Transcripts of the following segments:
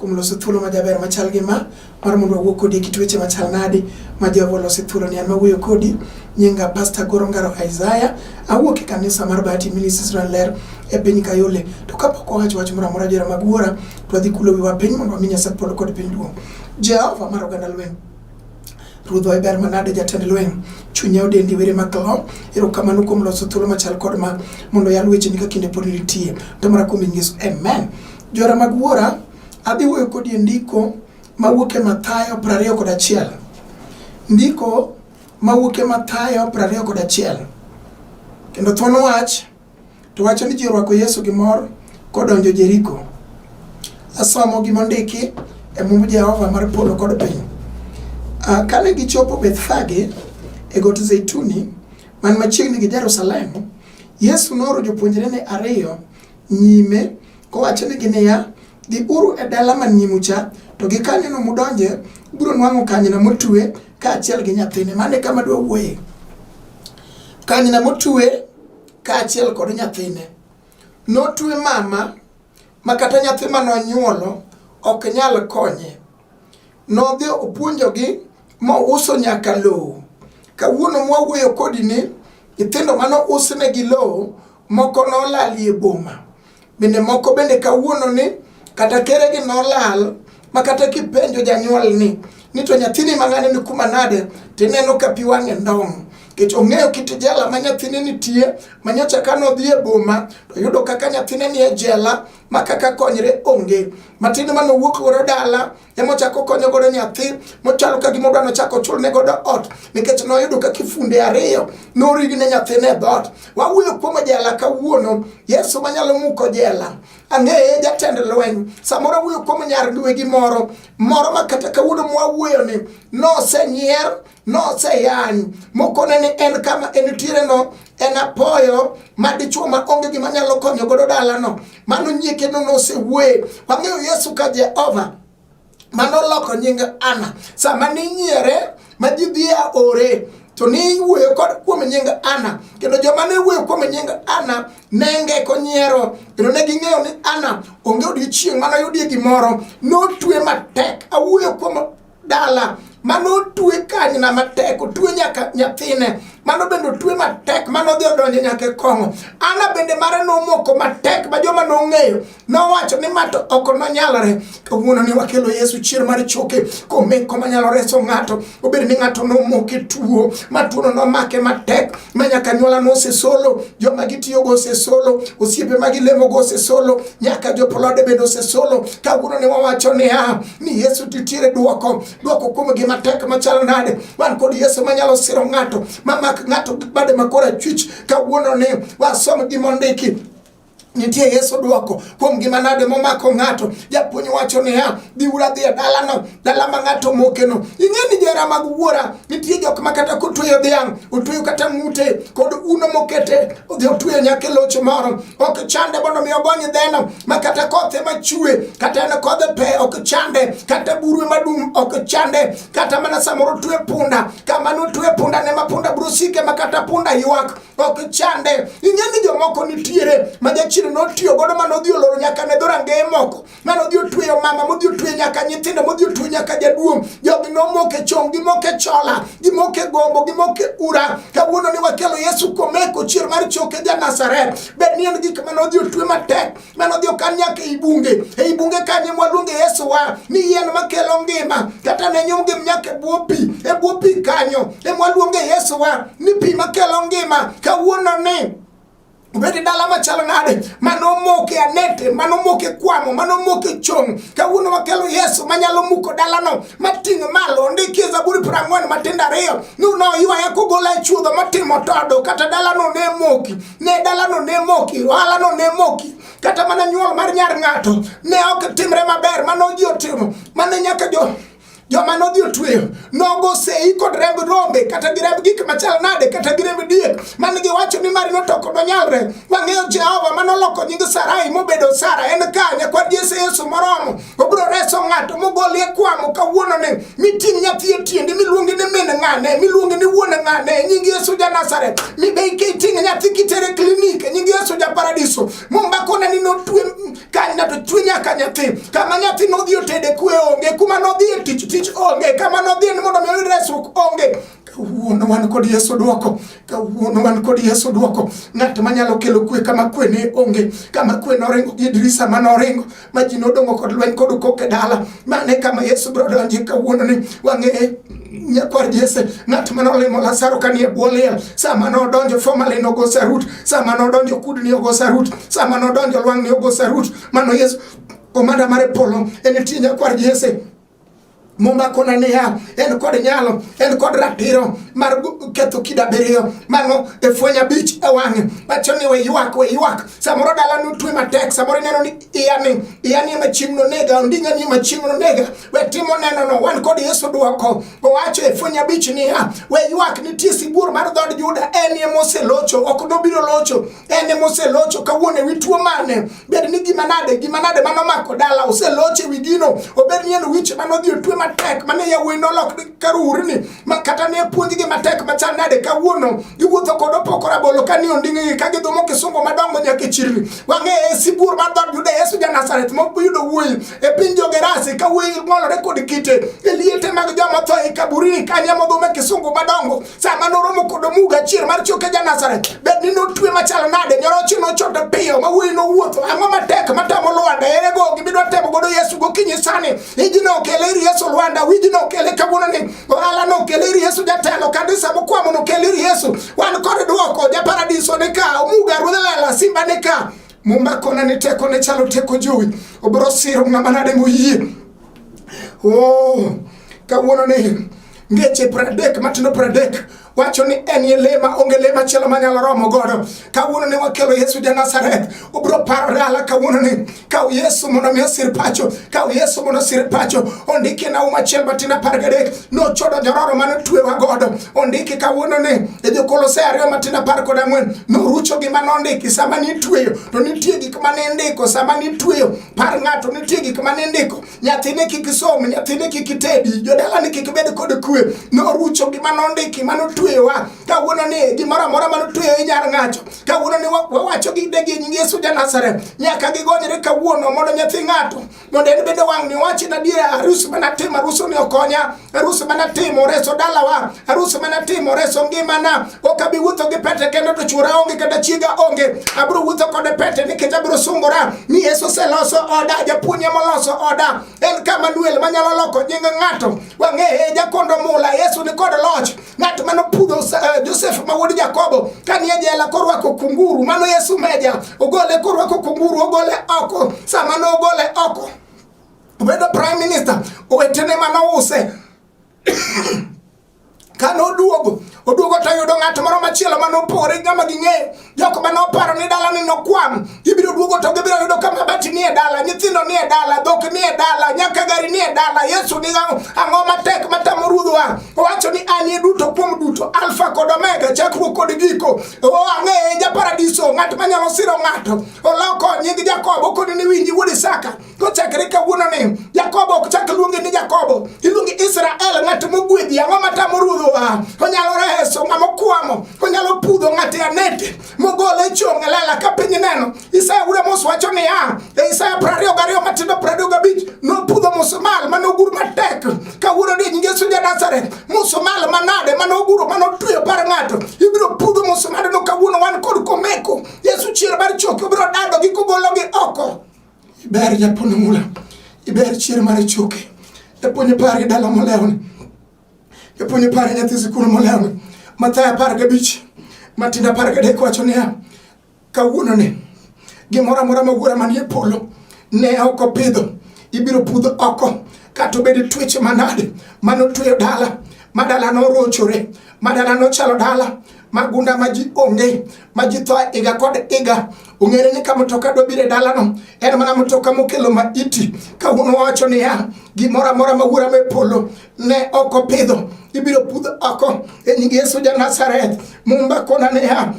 kuom loso thuolo majaber machal gi ma mar mondo wawuo kodi e kit weche machal nadi ma Jehova oloso thuolo ni an mawuoyo kodi nyinga Pastor Goro Ngaro Isaiah awuok e kanisa mar Bahati Ministries Ler e piny Kayole to kapok owacho wach moro amora jera mag wuora to adhi kulo wiwa piny mondo wami Nyasaye polo kod piny duong' Jehova mar oganda lweny Ruodhwa iber manade jatend lweny chunya odendi were maklo erokamano kuom loso thuolo machal kod ma mondo yal wecheni ka kinde pod nitie to mara kuom Yesu amen Jora mag Wuora, adhi wuoyo kodi e ndiko mawuok e Mathayo 20 kod achiel. Ndiko mawuok e Mathayo 20 kod achiel. Kendo thuon wach to wacho ni ji orwako Yesu gi mor kodonjo Jeriko. Asomo gima ondiki e mumb Jehova mar polo kod piny. Ah, kane gichopo Bethfage e got Zeituni man machiegni gi Jerusalem, Yesu nooro jopuonjrene ariyo nyime kowachonegi niya, Dhiuru e dala man nyimu cha, to gi kanyno mudonje, ubiro nwang'o kanyna motue kaachiel gi nyathine. Mano e kama dwa wuoye. Kanyna motue kaachiel kod nyathine. Notue mama ma kata nyathi ma nonyuolo ok nyal konye. Nodhi opuonjogi ma uso nyaka lowo. Kawuono mwawuoyo kodi ni nyithindo mane usne gi lowo moko nolalie boma. Bende moko bende kawuono ni kata keregi nolal ma kata kipenjo janyuol ni ni to nyathini mang'ane ni kuma nade tineno ka pi wang'e ndong' nikech ong'eyo kit jela ma nyathine nitie ma nyocha ka nodhi e boma to yudo kaka nyathine ni e jela ma kaka konyre onge matin ma nowuok godo dala ema ochako konyo godo nyathi mochalo ka gima odwa nochako chulne godo ot nikech noyudo ka kifunde ariyo norigi ne nyathine e dhoot wawuoyo kuom jela kawuono yesu manyalo muko jela ang'eye jatend lweny samoro awuoyo kuom nyar dwegi moro moro ma kata kawuono mwawuoyoni nosenyier noseyany mokone ni en kama entiere no en apoyo ma dichuo ma onge gima nyalo konyo godo dalano mano nyie kendo nosewuoye wang'eyo yesu ka jehova manoloko nying ana sama ninyiere ma ji dhi a ore to ne iwuoyo kod kuom nying Ana kendo joma ne wuoyo kuom nying Ana ne ngeko nyiero kendo ne ging'eyo ni Ana onge odiechieng' manoyudie gimoro notwe matek awuoyo kuom dala mano otwe kanyna matek otwe nyaka nyathine mano bende otwe matek mano odhi odonjo nyaka e kong'o ana bende mare nomoko matek ma joma nong'eyo nowacho ni ma to ok nonyalre kawuono ni wakelo yesu chier mar choke komeko manyalo reso ng'ato obed ni ng'ato nomoke tuo ma tuono nomake matek ma nyaka nyuolano osesolo, joma gitiyogo osesolo, osiepe ma gilemogo osesolo, nyaka jopolode bende osesolo. Kawuono ne wawacho niya ni Yesu titiere duoko duoko kuom gima tek machalo nade. Wan kod Yesu manyalo siro ng'ato, mamak ng'ato bade makora chwich. Kawuono ni wasom gimondiki Nitie Yesu dwoko kuom gima nade momako ng'ato. Japuonj wacho niya, biuru adhi e dalano, dala ma ng'ato mokeno. Ing'e ni jera mag wuora, nitie jok ma kata kotweyo dhiang', otweyo kata ng'ute kod uno mokete, odhi otweyo nyaka e loch moro. Ok chande mondo mi ogony dheno, ma kata koth ema chue, kata en kodh pe ok chande, kata buru ema dum ok chande, kata mana samoro otwe punda, kama notwe punda ne ma punda biro sike ma kata punda ywak. ok chande ing'e ni jomoko nitiere ma jachien notiyo godo ma nodhi oloro nyaka ne dhorangeye moko ma nodhi otweyo mama modhi otweyo nyaka nyithindo modhi otweyo nyaka jaduong' jogi nomoke chong gimoke chola gimoke gombo gimoke ura kawuono ni wakelo yesu komeko chier mar choke ja nasaret bed ni en gik ma nodhi otwe matek mano dhi okan nyaka ei bunge ei bunge kanye mwaluonge yesu wa ni yien makelo ngima kata ne nyumgi nyaka e bwo pi e bwo pi kanyo e mwaluonge yesu wa ni pi makelo ngima kawuono ni obedi dala machalo nade manomoke anete manomoke kwamo manomoke chong kawuono wakelo yesu manyalo muko dalano mating' malo ondiki e zaburi piero ang'wen matindo ariyo ni noywaya kogola e chuodho matimo todo kata dalano ne moki ne dalano ne moki, ohalano ne moki, kata mana nyuol mar nyar ng'ato ne ok timre maber, mano ji otimo, mane nyaka jo joma nodhi otweyo nogo sei kod remb rombe kata gi remb gik machal nade kata gi remb diek mane giwacho ni mari notoko donyalre wang'eyo jehova manoloko nying sarai mobedo sara en ka nyakwar jese yesu moromo obiro reso ng'ato mogolie kwamo kawuono ni miting' nyathi e tiendi miluongi ni min ng'ane miluongi ni wuon ng'ane e nying yesu ja nasaret mibei kiting' nyathi kitere klinik e nying yesu ja paradiso mombakone ni notwe kanyna to chwe nyaka nyathi kama nyathi nodhi otede kwe onge kuma nodhi e tich tich onge kama nodhi en mondo mi oyud resruok onge kawuono wan kod yesu dwoko kawuono wan kod yesu dwoko ng'at manyalo kelo kwe kama kwe ne onge kama kwe noringo gi dirisa ma noringo ma ji nodongo kod lweny kod kok e dala mane kama Yesu biro donje kawuono ni wang'e nyakwar Jesse ng'at mane olimo Lazaro kanie bwo liel sama nodonjo formerly nogo sarut sama nodonjo kudni ogo sarut sama nodonjo lwang'ni ogo sarut mano Yesu komanda mare polo en tie nyakwar Jesse Muma kona niya, en kod nyalo, en kod ratiro mar ketho kida abiriyo mano e fweny abich e wang'e. Wacho ni we ywak, we ywak. Samoro dala nu twe matek, samoro ineno ni iya ni, iya ni machieng' no nega, onding'a ni machieng' no nega. We timo neno no, wan kod Yesu dwoko. Owacho e fweny abich niya, we ywak nitie sibuor mar dhood Juda, en ye moselocho, ok nobiro locho. en ema oselocho kawuono ewi tuo mane bed ni gima nade gima nade mano mako dala oselocho ewi gino obed ni en wich mano odhi otwe matek mane yawuoyi nolok karurni ma kata ne puonjgi matek machal nade kawuono giwuotho kod opoko rabolo ka ni onding'igi ka gidhumo kisungo madongo nyaka e chirni wang'e e sibuor mar dhood Juda Yesu ja Nazareth moyudo wuoyi e piny jogerasi ka wuoyi ng'olore kod kite e liete mag joma tho e kaburini kanye modhume kisungu madongo sama noromo kod omuga achiel mar choke ja Nazareth bed ni notwe machal nade nyoroche nochote piyo ma wuoyi nowuotho ang'o matek matamo Lwanda ere go gimidwa temo godo Yesu gokinyi sani iji nokele ir Yesu Lwanda wiji nokele kawuono ni ohala nokele ir Yesu jatelo kanisa mokwamo nokele ir Yesu wan kod dwoko ja paradiso ni ka omuga ruodh lela simba ni ka mumba kona ni teko ne chalo teko jowi obro siro ng'ama nade moyie oh kawuono ni ngeche pradek matindo pradek wacho ni en ye lema onge lema chielo manyalo romo godo kawuono ne wakelo yesu ja nazareth ubro parore ala kawuono ni kaw yesu mondo mi osir pacho kaw yesu mondo osir pacho ondiki na uma chiel matin apar gadek nochodo jororo mane otwewa godo ondiki kawuono ni e jokolose ariyo matin apar kod ang'wen norucho gima nondiki sama nitweyo to nitie gik mane indiko sama nitweyo par ng'ato nitie gik mane indiko nyathine kik som nyathine kik tedi jodalani kik bed kod kwe norucho gima nondiki ma notweyowa kawuono ni gimoro amora ma notweyo inyar ng'acho kawuono ni wawacho gi degi nying yesu ja nazareth nyaka gigonyre kawuono mondo nyathi ng'ato mondo en bende wang'ni owachi na dier arus manatimo arusoni okonya arus mana timo reso dalawa arus mana timo reso ngimana ok abi wuotho gi pete kendo to chwora onge kata chiega onge abiro wuotho kode pete nikech abiro sungora ni yesu oseloso oda japuonye moloso oda en kama duel manyalo loko nying ng'ato wang'eye jakondo mula yesu ni kod loch ng'at mano pudho eh, josef ma wuod jakobo ka nie jela korwako kunguru mano yesu meja ogole korwako kunguru ogole oko sama nogole oko Obedo prime minister, owetene mane ouse kane oduogo oduogo to oyudo ng'at moro machielo mane opore ng'ama ging'eyo jok mane oparo ni dala ni nokwam ibiro duogo to gibiro yudo ka mabati nie dala nyithindo nie dala dhok nie dala nyaka gari nie dala yesu ni ang'o matek matamo ruodhwa owacho ni anie duto kuom duto alfa kod omega chakruok kod giko o ang'eye japaradiso ng'at manyalo siro ng'ato oloko nying jakobo koni ni winji wuod isaka Kochakre kawuononi, Jakobo ok chak luongi ni Jakobo, iluongi Israel, ng'at mogwedhi. Ang'o matamo ruodho wa? Onyalo reso ng'ama okwamo, onyalo pudho ng'ate anete, mogole e chong' e lela ka piny neno. Isaya wuod Amos wacho niya, e Isaya prariyo gariyo matindo prariyo gabich, nopudho musumal mane ogur matek, kawuono ni nyinge Yesu ja Nazareth, musumal manade mane oguro mane otweyo par ng'ato, ibiro pudho musumalno kawuono wan kod komeko. Yesu chier mar choke obiro dadogi kogologi oko. Iber japon mula, iber chier mar ichuke, japuonj apar gi dala molewni, japuonj apar gi nyathi sikul molewni, Mathayo apar gabich, Matindo apar gadek wacho niya, kawuononi gimoro amora ma wuora manie polo ne ok opidho ibiro pudh oko kata obed tueche manade manotweyo dala ma dala norochore ma dala nochalo dala magunda ma ji onge ma ji thoa iga kod iga ong'ere ni ka mtoka dobiro e dalano en mana mtoka mokelo ma iti ka un wacho niya gimoro amora ma wuora me polo ne ok opidho ibiro pudh oko e nying yesu ja nazareth mumba kona niya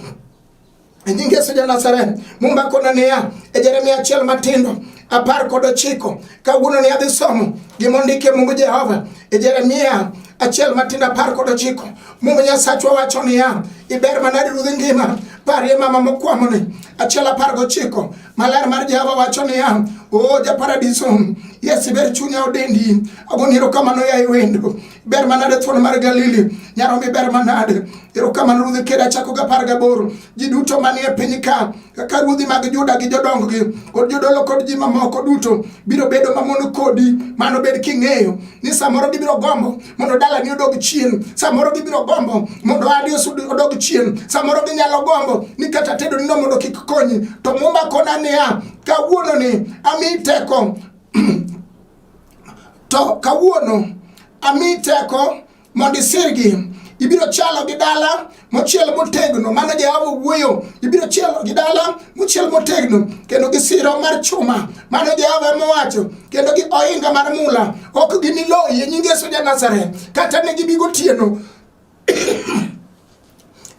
e nying Yesu ja Nazareth, Mumba kona niya e Jeremia achiel matindo apar kod ochiko kawuono ni adhi somo gima ondike Mungu Jehova e Jeremia achiel matindo apar kod ochiko Mungu Nyasachwa wacho niya iber manadi rudhi ngima parie mama mokwamoni achiel apar gochiko maler mar Jehova wacho niya o japaradiso Yesu iber chunya odendi agoni erokamano yaye wendo ber manade thuon mar Galili nyaromi ber manade erokamano ruodhi kere achako gi apar gaboro ji duto manie piny ka kaka ruodhi mag Juda gi jodonggi kod jodolo kod ji mamoko duto biro bedo mamon kodi mano bed king'eyo ni samoro gibiro gombo mondo dalani odog chien samoro gibiro gombo mondo adi odog chien samoro ginyalo gombo ni kata tedo nino mondo kik konyi to muma kona niya kawuononi ami teko To kawuono ami teko mondo isirgi ibiro chalo gi dala mochiel motegno mano jehova wuoyo ibiro chielo gi dala mochiel motegno kendo gi siro mar chuma mano jehova emowacho kendo gi ohinga mar mula ok giniloyi nyingeso ja nazareth kata ne gibi gotieno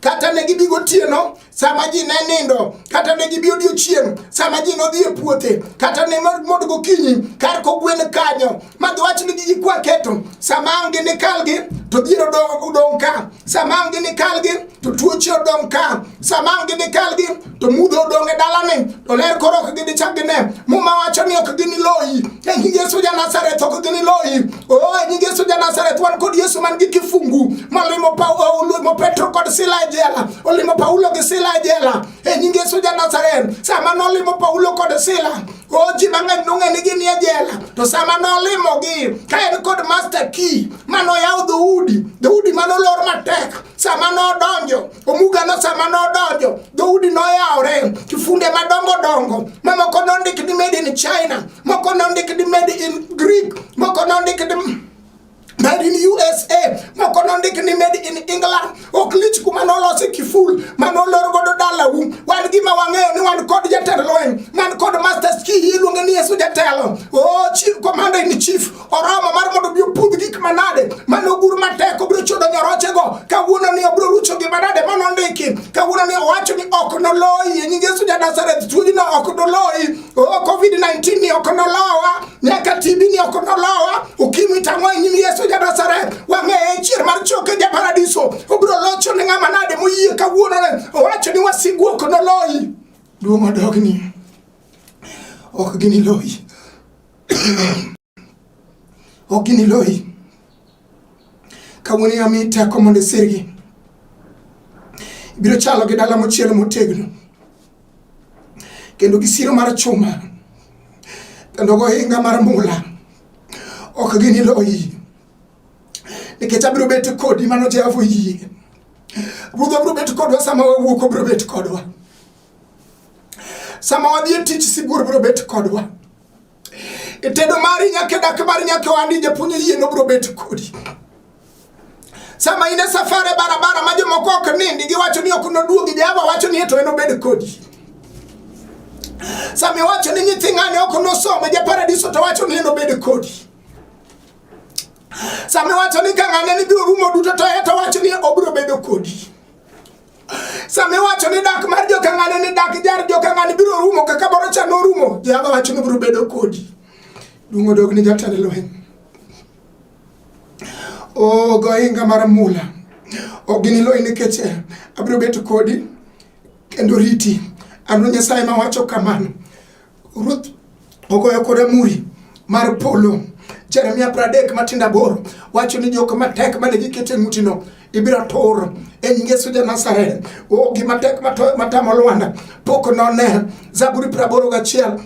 kata ne gibi gotieno sama ji ne nindo kata ne gibi odiochieng' sama ji nodhi e puothe kata ne mondo gokinyi kar kogwen kanyo ma giwach ni gigi kwa keto sama ang' gi nikalgi to dhier odong' ka sama ang' gi nikalgi to tuoche odong' ka sama ang' gi nikalgi to mudho odong' e dalani to ler koro ok ginichak gine muma wacho ni ok giniloyi e nying yesu ja nazareth ok giniloyi o oh, e nying yesu ja nazareth wan kod yesu man gi kifungu molimo paulo petro kod sila e jela olimo paulo gi sila e jela e nying yesu ja nazareth sama nolimo paulo kod sila o oh, ji mang'eny nong'e ni gin e jela to sama nolimogi ka en kod master key manoyaw dhoudi dhoudi manolor matek sama nodonjo Omuga no sama nodonjo, dhoudi noyawore, kifunde madongo dongo, ma moko nondik ni made in China, moko nondik ni made in Greek, moko nondik ni made in USA, moko nondik ni made in England. Ok lich kuma nolosi kiful ma nolor godo dalau. Wan gima wang'eyo ni wan kod jatend lweny, man kod masters key iluonge ni Yesu jatelo. Oh, chief commander in chief oromo mar mondo obi opudh gik manade mane ogur matek obiro chudo nyorochego kawuono ni obiro rucho gi manade mane ondiki kawuono ni owacho ni ok noloyi e nying Yesu ja Nazareth tuojino ok noloyi covid-19 ni ok nolowa nyaka TB ni ok nolowa ukimwi tang'o e nyim Yesu ja Nazareth wang'eye chier mar choke ja paradiso obiro locho ne ng'ama nade moyie kawuono ne owacho ni wasigu ok noloyi duong' odogni ok giniloyi ok giniloyi. Kawuono yami teko mondo isirgi. Ibiro chalo gi dala mochiel motegno kendo gi siro mar chuma kendo gohinga mar mula ok giniloyi nikech abiro bet kodi mano Jehova oyie. Ruoth abiro bet kodwa sama wawuok obiro bet kodwa. Sama wadhi e tich sibuor biro bet kodwa. e tedo mari nyaka dak mari nyaka wandi japuonj yie nobro bet kodi sama in e safar e barabara ma jomoko ok nindi giwacho ni ok noduogi jehova wacho ni eto enobed kodi sama iwacho ni nyithi ng'ane ok nosome japaradiso to wacho ni enobed kodi sama iwacho ni ka ng'ane ni biro rumo duto to eto wacho ni obiro bedo kodi Sama iwacho ni dak mar jokang'ane ni dak jar jokang'ane biro rumo kaka boro cha norumo, Jehova wacho ni biro bedo kodi. Duong' odog ni jatend lweny. O gohinga mar mula, ok giniloyi nikech eh, abiro bedo kodi kendo riti. An Nyasaye ma wacho kamano. Ruth ogoyo kore muri mar polo. Jeremia pradek matindo aboro wacho ni jok matek mane giketo e ng'utino ibiro tur e nying Yesu ja Nazareth. O gima tek matamo Lwanda pok none. Zaburi praboro gachiel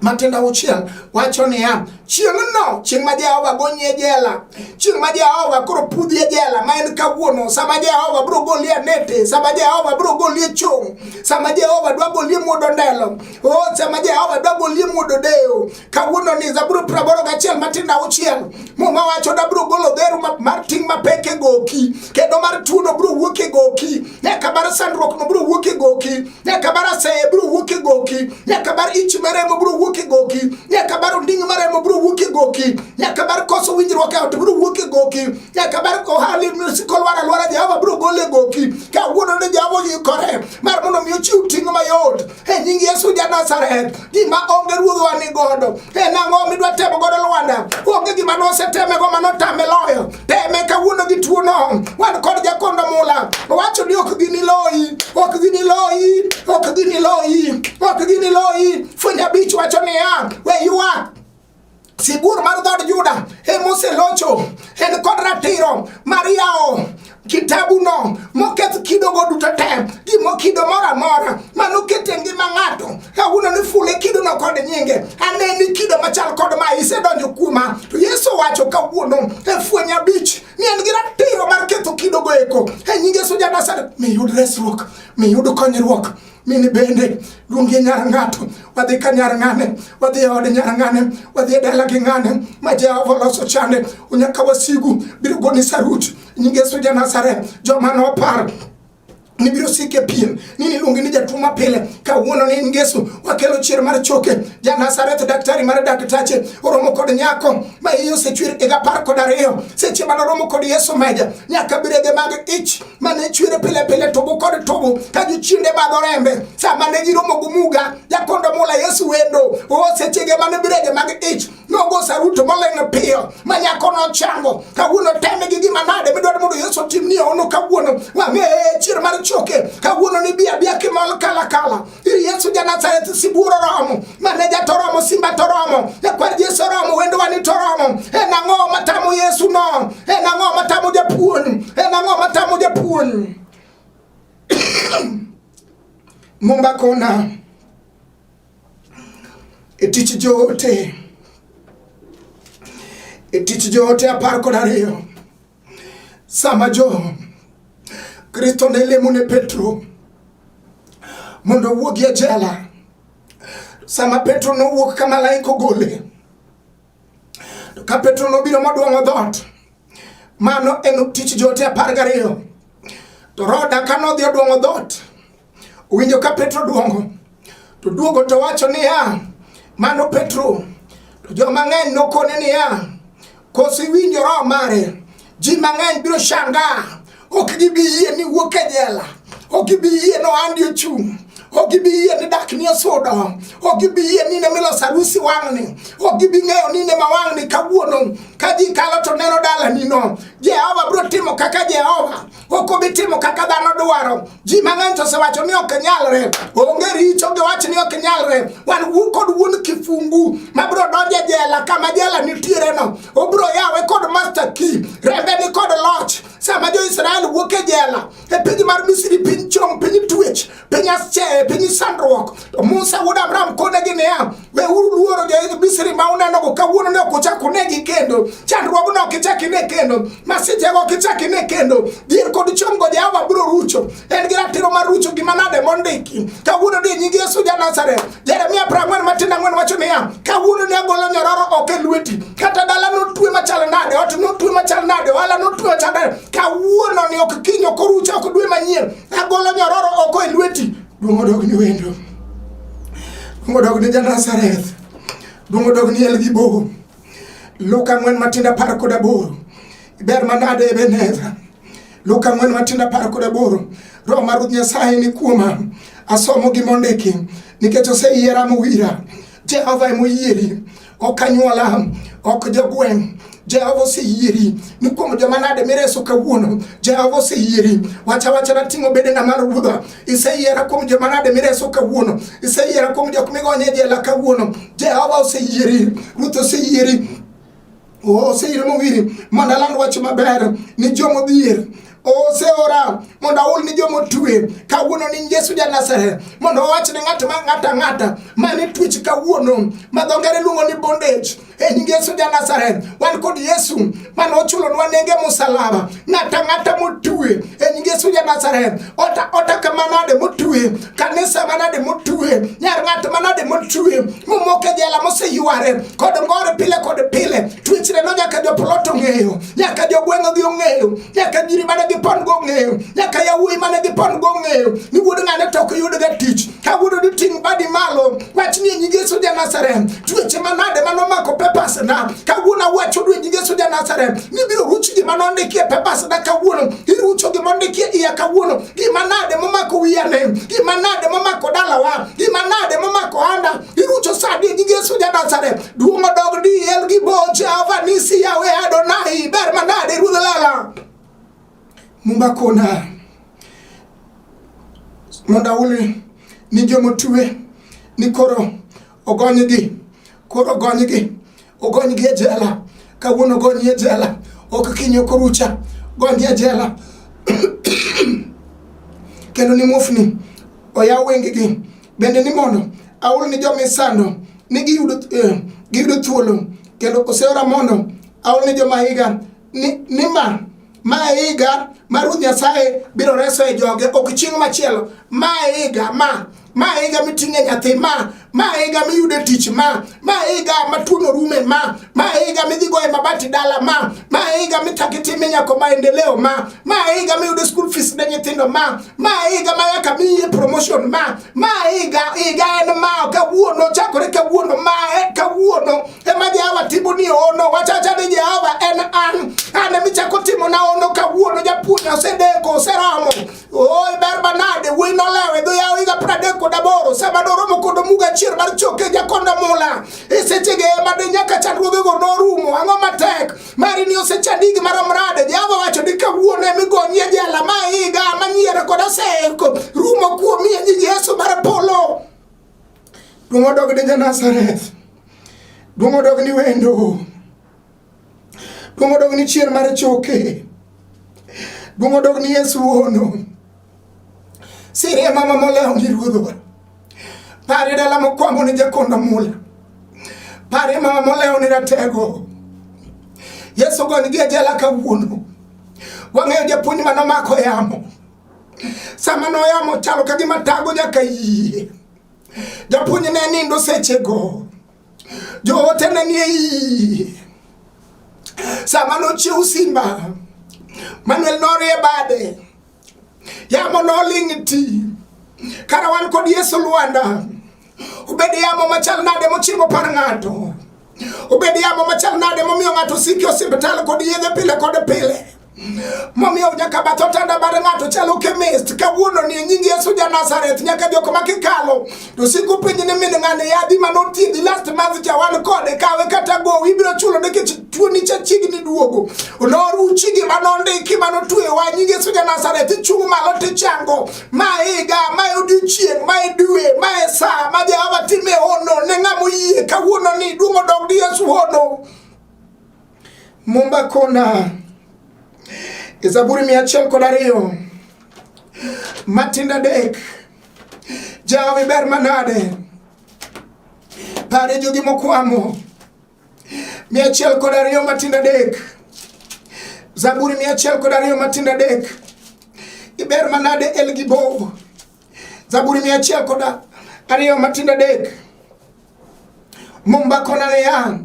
matindo auchiel wacho niya, Chieng'no, chieng' ma Jehova gonyie jela, chieng' ma Jehova koro pudhie jela ma en kawuono, sama Jehova biro golie nete, sama Jehova biro golie chong', sama Jehova dwa golie muodo ndelo, oh, sama Jehova dwa golie muodo deyo. Kawuono ni Zaburi praboro gachiel matindo auchiel, Muma wacho da biro golo dheru mar ting' mapek e goki, kendo mar tuono biro wuok e goki. nyaka bar sandruok no biro wuok e goki nyaka bar aseye biro wuok e goki nyaka bar ich maremo biro wuok e goki nyaka bar onding' maremo biro wuok e goki nyaka bar koso winjruok e ot biro wuok e goki nyaka bar ohali kolwar alwara jehova biro gole goki kawuono ne jehova oyikore mar mondo mi ochiw ting' mayot e nying Yesu ja Nazareth, gima onge ruodhwa ni godo en ang'o midwa temo godo Lwanda? Onge gima nosetemego ma notame loyo. Teme kawuono gi tuono, wan kod jakondo mula owacho ni ok gini loyi, ok gini loyi, ok gini loyi, ok gini loyi. Fweny abich wacho niya, we ywak Sibuor mar dhood Juda emoselocho en kod ratiro mar yawo kitabuno moketh kidogo duto te gimo kido moro amora manokete ngima ng'ato kawuono ni fule kidono kod nyinge aneni kido machal kod ma isedonjo kuoma to yesu wacho kawuono e fweny abich ni en gi ratiro mar ketho kidogo eko e nyinge sujanasaret miyud resruok miyud konyruok min bende luongi nyar ng'ato wadhi ka nyar ng'ane wadhi e od nyar ng'ane wadhi e dala gi ng'ane ma jehova oloso chande unyaka wasigu biro goni sarut nying yesu ja nazareth joma nopar nibiro sike pien ni niluongi ni jatuo mapile kawuono ni in Yesu wakelo chier mar choke ja Nazareth daktari mar daktache oromo kod nyako ma iye osechwer higa apar kod ariyo seche mane oromo kod Yesu meja nyaka birege mag ich mane chwere pile pile tobo kod tobo ka gichinde madho rembe sama ne giromo gi muga jakondo mula yesu wendo o sechege mane birege mag ich nogo saruto moleng'o piyo ma nyako nochango kawuono teme gi gima nade midwaro mondo yesu otimni ono kawuono wang'e chier mar choke kawuono ni biya biya kimol kala kala iri yesu ja nazareth siburo romo maneja to romo simba to romo ekwer jesu romo wendo wani to romo en ang'o matamo yesu no en ang'o matamo japuonj en ang'o matamo japuonj mumba kona e tich joote e tich joote apar kod ariyo Sama jo Kristo ne lemo ne Petro mondo owuogi e jela, sama Petro nowuok ka malaika ogole, to ka Petro nobiro modwong'o dhoot, mano en tich joote apar gariyo. To Roda ka nodhi odwong'o dhoot, Owinjo ka Petro duongo to duogo to wacho niya, mano Petro. To jo mang'eny nokone niya, koso iwinjo roho mare? Ji mang'eny biro shanga, ok gibi yie ni wuok e jela, ok gibi yie ni ohandi ochung' ok gibi yie ni dak ni osudo ok gibi yie ni ne miloso arusi wang'ni ok gibi ng'eyo ni ne ma wang'ni kawuono ka ji kalo to neno dalanino jehova biro timo kaka jehova ok obi timo kaka dhano dwaro ji mang'eny to osewacho ni ok nyalre onge richo giwacho ni ok nyalre wan wuo kod wuon kifungu mabiro donjo e jela kama jela nitiere no obiro yawe kod master key rembe ni kod loch sama jo israel wuok e jela e piny mar misri piny chom piny twech piny asche piny sandruok to musa wuod abraham konegi niya weuru luoro jo-misri ma unenogo kawuono ne ok ochak unegi kendo chandruogno ok ichak ine kendo masichego ok ichak ine kendo dhier kod chomgo jehova biro rucho en gi ratiro mar rucho gima nade mondiki kawuono ni nying yesu ja nazareth Jeremia prang'wen matin ang'wen wacho niya, kawuono ne agolo nyororo oko e lweti, kata dala notwe machal nade, ot notwe machal nade, ohala notwe machal nade, kawuono ni ok kiny ok orucha ok dwe manyien, agolo nyororo oko e lweti. Duong' odog ni wendo, duong' odog ni Janazareth, duong' odog ni Elgibo. Luka ang'wen matindo apar kod aboro, ber manade Ebeneza Luka ang'wen matin apar kod aboro Roho mar Ruoth Nyasaye ni kuoma, asomo gima ondiki, nikech oseyiera mowira. Jehova ema oyieri, ok anyuola, ok jogweng' Jehova oseyieri ni kuom joma nade mireso kawuono. Jehova oseyieri, wacha wacha na ting'o bede na malo ruodha. Iseyiera kuom joma nade mireso kawuono. Iseyiera kuom jok migonye jela kawuono. Jehova oseyieri, Ruoth oseyieri oseira mowiri mondo aland wach maber ni jomodhier oseora mondo aul ni joma otwe kawuono ni Yesu ja Nazareth mondo owach ni ng'at ma ng'ata ng'ata mane twech kawuono ma dho ngere luongo ni bondage e nying Yesu ja Nazareth wan kod Yesu mane ochulonwa nenge musalaba ng'ato ang'ata motue e nying Yesu ja Nazareth ota ota kama nade motue kanisa manade motue nyar ng'ato manade motue momoke jela moseyware kod ngore pile kod pile twechre no nyaka jopolot ong'eyo nyaka jogweng'o gi ong'eyo nyaka nyiri mane gipon go ong'eyo nyaka yawuoyi mane gipon go ong'eyo ni wuod ng'ane to ok yudga tich kawuono ni ting' badi malo wach ni e nying Yesu ja Nazareth tuoche manade mane omako papers na kawuono awacho ni e nying Yesu ja Nazareth ni biro ruch gima nondikie papers na kawuono irucho gima ondikie iya kawuono gima nade momako wiyane gima nade momako dalawa gima nade momako anda irucho sadi e nying Yesu ja Nazareth duong' odog diel gi boche avanisi yawe Adonai ber manade ruodh lala Mumba kona mondo aule ni joma otue ni koro ogonygi koro ogonygi ogonygi e jela kawuono ogony e jela ok kinyo korucha gony e jela kendo ni mufni oyaw wengegi bende ni mondo aul ni joma isando ni giyudo eh, giyudo thuolo kendo oseora mondo aul ni joma higa ni, ni ma ma higa ma Ruoth Nyasaye biro resoe joge ok chieng' machielo ma higa ma ma higa miting'e nyathi ma ma higa miyude tich ma ma higa ma tuono rume ma ma higa midhi goye mabati dala ma ma higa mitaki time nyako maendeleo ma ma higa miyude school fees ne nyithindo ma ma higa ma yaka miye promotion ma ma higa higa en ma kawuono chakore kawuono ma e, kawuono ema Jehova timo ni ono wachacha ni Jehova en an an ema ichako timo na ono kawuono japuonj osedeko oseromo oi ber manade wuoyi nolewe dho yawo higa pradek kod aboro sama noromo kod omuga achiel mar choke jakonda mula e sechege ema de nyaka chandruogego norumo ang'o matek Mari ni osechadi gi marom rade. Jehova wacho ni kawuono ema igonyie jela ma higa ma nyiero kod oseko rumo kuomi e nying Yesu mar polo. Duong' odog ni Janazareth. Duong' odog ni wendo. Duong' odog ni chier mar choke. Duong' odog ni Yesu wuono. Sirie mama molewo ni ruodhowa. Pare dala mokwambo ni jakonda mula. Pare mama molewo ni ratego. Yesu goni gi ajala kawuono. Wang'eyo japuonj ma nomako yamo. Sama noyamo chalo ka gima tago nyaka yie. Japuonj ne nindo sechego. Joote ne nie yie. Sama nochiew simba. Manuel norie bade. Yamo noling' ti. Kara wan kod Yesu Lwanda. Obed yamo machal nade mochimbo par ng'ato. Obed yamo machal nade momiyo ng'ato siki osiptal kod yedhe pile kod pile. Momiyo nyaka bath otanda mar ng'ato chalo chemist. Kawuono ni nying Yesu ja Nazareth nyaka jok ma kikalo to siko penje ne min ng'ane yadhi ma nothiedhi last month cha wan kode kawe kata gowi ibiro chulo nikech tuoni cha chiegni duogo noruchi gima nondiki ma notwewa nyinge Yesu ja Nazareth ichung' malo tichango ma higa ma odiochieng' ma dwe ma e sa ma Jehova time hono ne ng'ama oyie kawuono ni duong' odog di Yesu hono Mumba kona e Zaburi mia achiel kod ariyo matinda dek Jehova iber manade pare jogi mokwamo mia achiel kod ariyo matinda dek Zaburi mia achiel kod ariyo matinda dek iber manade El Gibo Zaburi mia achiel kod ariyo matinda dek Mumba kona niya,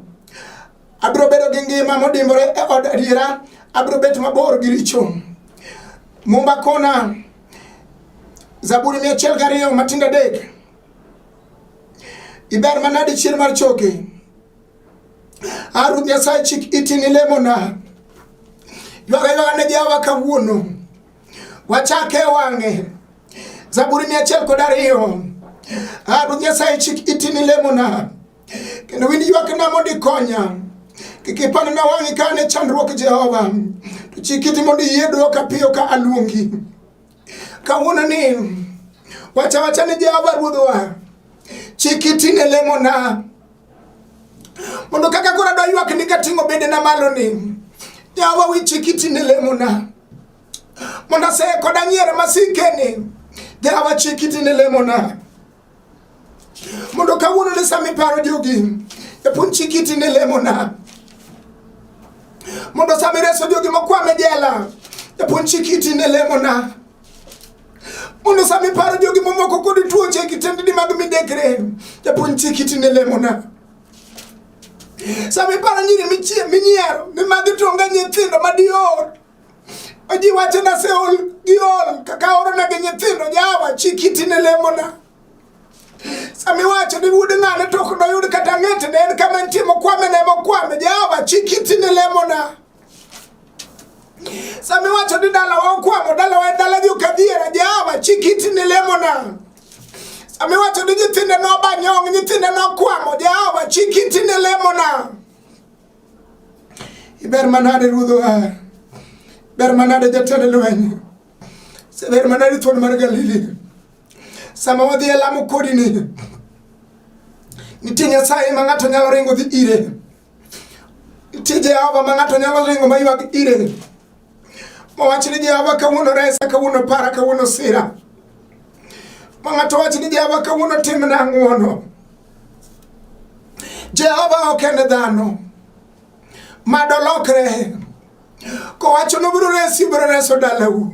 abiro bedo gi ngima modimbore e od adiera, abiro bet mabor gi richo. Mumba kona Zaburi mia achiel gariyo matindo adek, iber manade chier mar choke. A Ruoth Nyasaye chik iti ni lemona, ywaga ywaga ne jawa kawuono. wachake wange zaburi mia achiel kod ariyo ah, Ruoth Nyasaye chik iti ni lemona kendo winj ywakna mondo ikonya kik ipandna wang'i ka an e chandruok Jehova to chik iti mondo iyie dwoka piyo ka aluongi kawuono ni wacha wacha ni Jehova Ruodhwa chik iti ne lemona mondo kaka koro adwa ywak ni kating'o bedena malo ni yawa wichi kitine lemona mondo aseko danyiere masikeni yawa chi kitine lemona mondo kawuono ne sama iparo jogi epun chi kitine lemona mondo sama ireso jogi mokwame jela epun chi kitine lemona mondo sama iparo jogi momoko kod tuoche kitendni mag midekre japuonj chik iti ne lemona sama iparo nyiri michie minyiero ni magi tonga nyithindo madior oji wacho na seol giol kaka orona gi nyithindo jawa chik iti ne lemona sama iwacho ni wuod ng'ane to ok noyud kata ng'etne en kama nitie mokwame ne mokwame jawa chik iti ne lemona Sami wacho ni dala wa okwamo, dala wa en dala jo kadhiera, Jehova chik iti ne lemona. Sami wacho ni nyithinde noba nyong', nyithinde nokwamo, Jehova chik iti ne lemona. Iber manade ruodh ohar, ber manade jatend lweny, seber manade thuon mar Galili. Sama wadhi e lamo kodini, nitie Nyasaye ma ng'ato nyalo ringo dhi ire. Nitie Jehova ma ng'ato nyalo ringo ma ywag ire mawach ni Jehova kawuono resa, kawuono para, kawuono sira. Ma ng'ato wach ni Jehova kawuono timna ng'wono. Jehova ok en dhano ma dolokre kowacho nobiro resi, biro reso dalau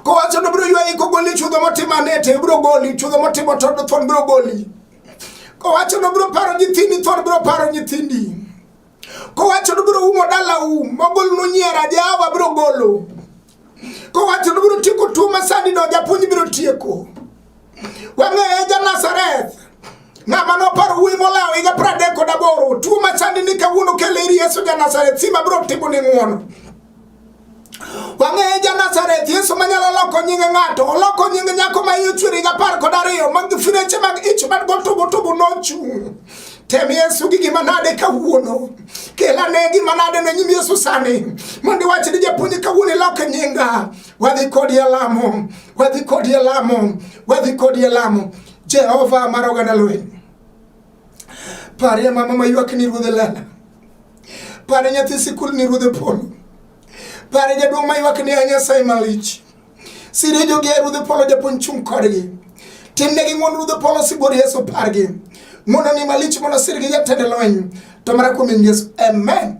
kowacho nobiro ywayi kogoli chudho motimo anete, biro goli chudho motimo tondo thon, biro goli Kowacho nobiro paro nyithindi, thon biro paro nyithindi. Kowacho nobiro umo dalau, mogol nunyiera, Jehova biro golo. Kowacho nobiro tieko tuo ma sani do, japuonj biro tieko. Wang'eye ja Nazareth, ng'ama noparo wuoyi molawo higa pradek kod aboro, tuo ma sani ni kawuono kele ir Yesu ja Nazareth, sima biro timo ni ng'wono. Wang'eyo ja Nazareth, Yesu manyalo loko nying ng'ato, oloko nying nyako ma iye chwiri gapar kod ariyo, mag fireche mag ich man gotubu tubu nochung'. Tem Yesu gi gima nade kawuono. Kela ne gima nade ne nyim Yesu sani. Mondo iwach ni japuonj kawuono ilok nyinga. Wadhi kodi e lamo. Wadhi kodi e lamo. Wadhi kodi e lamo. Jehova mar oganda lweny. Parie mama maywak ni ruodhe lala. Pare nyathi sikul ni ruodhe polo. Pare jaduong' maywak ni a Nyasaye malich. Sire jogi a ruodhe polo japuonj chung' kodgi. Timnegi ng'won ruodhe polo sibuor Yesu pargi. Mondo ni malich mondo sirgi jatend lweny. To mara kuom Yesu. Amen.